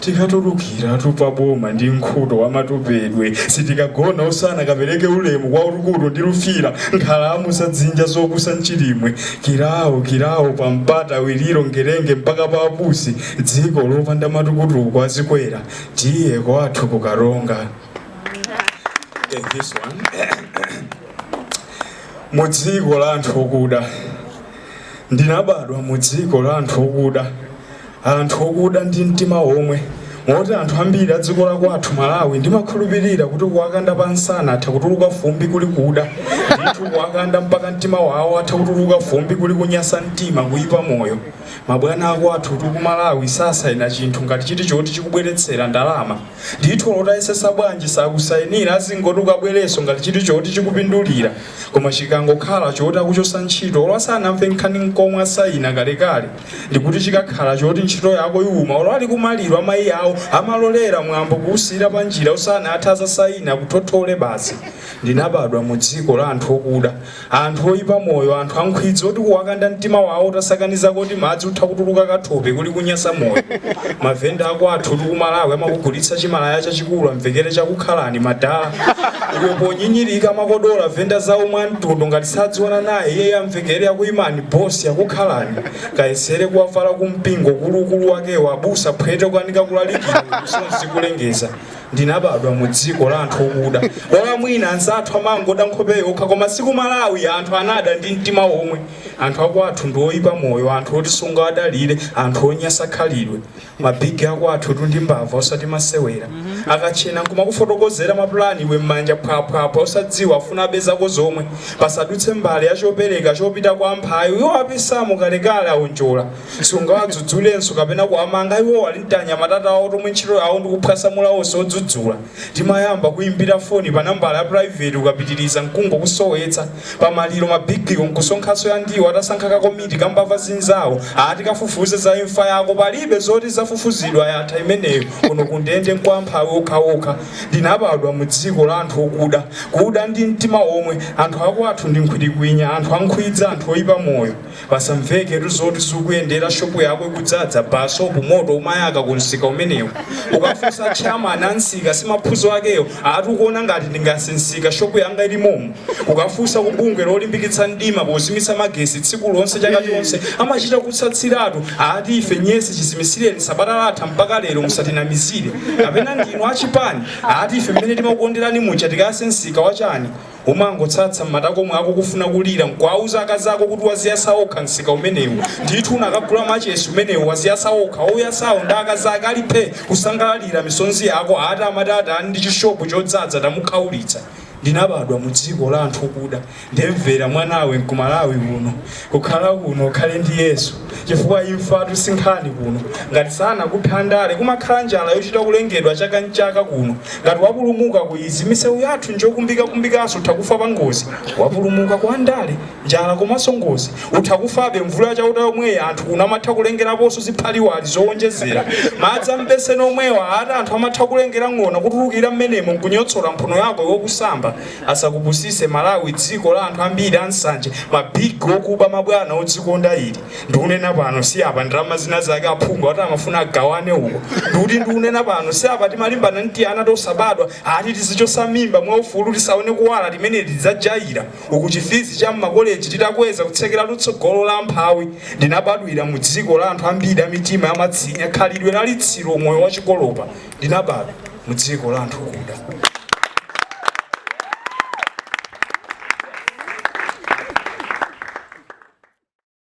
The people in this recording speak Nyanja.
Tikatulukiratu pa boma ndi nkhuto wa matupedwe sitikagona osana kapereke ulemu kwa Ulukutu ndi Lufira nkhalamu za dzinja zokusa mchilimwe Kilawo Kilawo pa Mpata Wiliro Ngerenge mpaka pa apusi dziko lopanda matukutuku a zikwera tiye kwathu ku Karonga Take this one mu dziko la anthu okuda ndinabadwa mu dziko la anthu okuda anthu okuda ndi mtima omwe moti anthu ambiri adziko lakwathu Malawi ndimakhulupirira kuti kuwakanda pa nsana atha kutuluka fumbi kuli kuda ndithu kuwakanda mpaka mtima wawo atha kutuluka fumbi kuli kunyasa mtima kuyipa moyo mabwana akwathutu ku Malawi sasayina chinthu ngati chiti choti chikubweretsera ndalama ndithu olo utayesesa bwanji sakusayinira azingoti ukabwereso ngati chiti choti chikupindulira koma chikangokhala choti akuchosa ntchito olo asanamve nkhani nkomwe asayina kalekale ndikuti chikakhala choti ntchito yako iwuma olo ali kumaliro a mayi awo amalolera mwambo kuwusiyira panjira usanathe azasaina akuthothole basi ndinabadwa mu dziko la anthu okuda anthu oyipa moyo anthu ankhwidzi oti kuwakanda mtima wawo utasakaniza koti madzi utha kutuluka kathope kuli kunyasa moyo mavenda akwathutu ku Malawi amakugulitsa chimalaya chachikulu amvekere chakukhalani madala iwo ponyinyirika amakodola venda nzawo mwa mtundu ngati sadziwana naye iyeyo amvekere yakuyimani boss yakukhalani kayesere kuwavala kumpingo kuluukulu wakewo abusa phwete kukanika kulalikira kuusowa nkulengeza ndinabadwa mu dziko la anthu okuda olo mwina anzathu amangoda nkhope yokha koma si ku Malawi anthu anada ndi mtima omwe anthu akwathu ndi oyipa moyo anthu oti sungawadalire anthu onyasa khalidwe ma big akwathutu ndi mbava osati masewera akatchena nkumakufotokozera mapulani iwe m'manja phwaphwaphwa osadziwa afuna abe zako zomwe pasadutse mbale ya chopereka chopita kwa amphawi iwo apisamo kalekale aonjola sungawadzudzulenso kapena kuwamanga iwo ali ntianyamata tawo tomwe ntchito yawo ndikuphwasamula onse odzudzula Timayamba kukuimbira foni pa nambala ya private ukapitiliza nkungokusowetsa. Pa maliro ma big wo nkusonkhanso ya ndiwo atasankha ka komiti ka mbava zinzawo ati kafufuze za imfa yako palibe zoti izafufuzidwe yatha imeneyo kuno ku ndende nkwa amphawi okhaokha. Ndinabadwa mu dziko la anthu okuda, kuda ndi mtima omwe, anthu akwathu ndi nkhwitikwinya, anthu ankhwidzi, anthu oipa moyo. Pasamveketu zoti zikukuyendera shop yako ikudzadza basopu moto umwayaka ku msika umenewo ukafunsa chairman a msika si mapfunzo akewo ati ukuona ngati ndingayase msika shop yanga ili momo ukafunsa ku bungwe lolimbikitsa mdima pozimitsa magesi tsiku lonse chaka chonse amachita kutsatsiratu ati ife nyesi chizimitsireni sabata latha mpaka lero musatinamizire kapena ndinu achipani ati ife mmene timakukonderani muja tikayase msika wachani Umangotsatsa m'matako mwako kufuna kulira nkuwauza akazako kuti waziyasa okha msika umenewu ndithu unakagula machesi umenewu waziyasa okha ouyasawo ndi akazake ali phe kusangalalira misonzi yako ati amati atani ndi chishopu chodzadza tamukhaulitsa. Ndinabadwa mu dziko la anthu okuda ndemvera mwanawe nkumalawi kuno. Kukhala kuno ukhale ndi Yesu chifukwa imfatu si nkhani kuno. Ngati sanakuphe andale, kumakhala njala yochita kulengedwa chaka n'chaka kuno. Ngati wapulumuka ku izi, misewu yathu n'njokumbikakumbikanso utha kufa pangozi. Wapulumuka ku andale, njala komanso ngozi, utha kufabe. Mvula ya Chauta yomweyi anthu kuno amatha kulengeraponso ziphaliwali zoonjezera. Madzi a m'beseni omwewa ati anthu amatha kulengera ng'ona kutulukira m'menemo n'kunyotsola mphuno yako iwe ukusamba. Asakupusise Malawi dziko la anthu ambiri ansanje ma big okuba mabwana odzikonda ali ndikunena pano si apa ndalama zinazake aphungu ati amafuna agawane uko ndikuti ndikunena pano si apa timalimbana ndi tiana tosabadwa ati tizichotsa mimba mwa ufulu tisaone kuwala timeneti tidzajaira uku chifizi cha mma college titakweza kutsekeratu tsogolo la amphawi ndinabadwira mu dziko la anthu ambiri amitima yamatsinya khalidwe la litsiro moyo wachikolopa ndinabadwa mu dziko la anthu okuda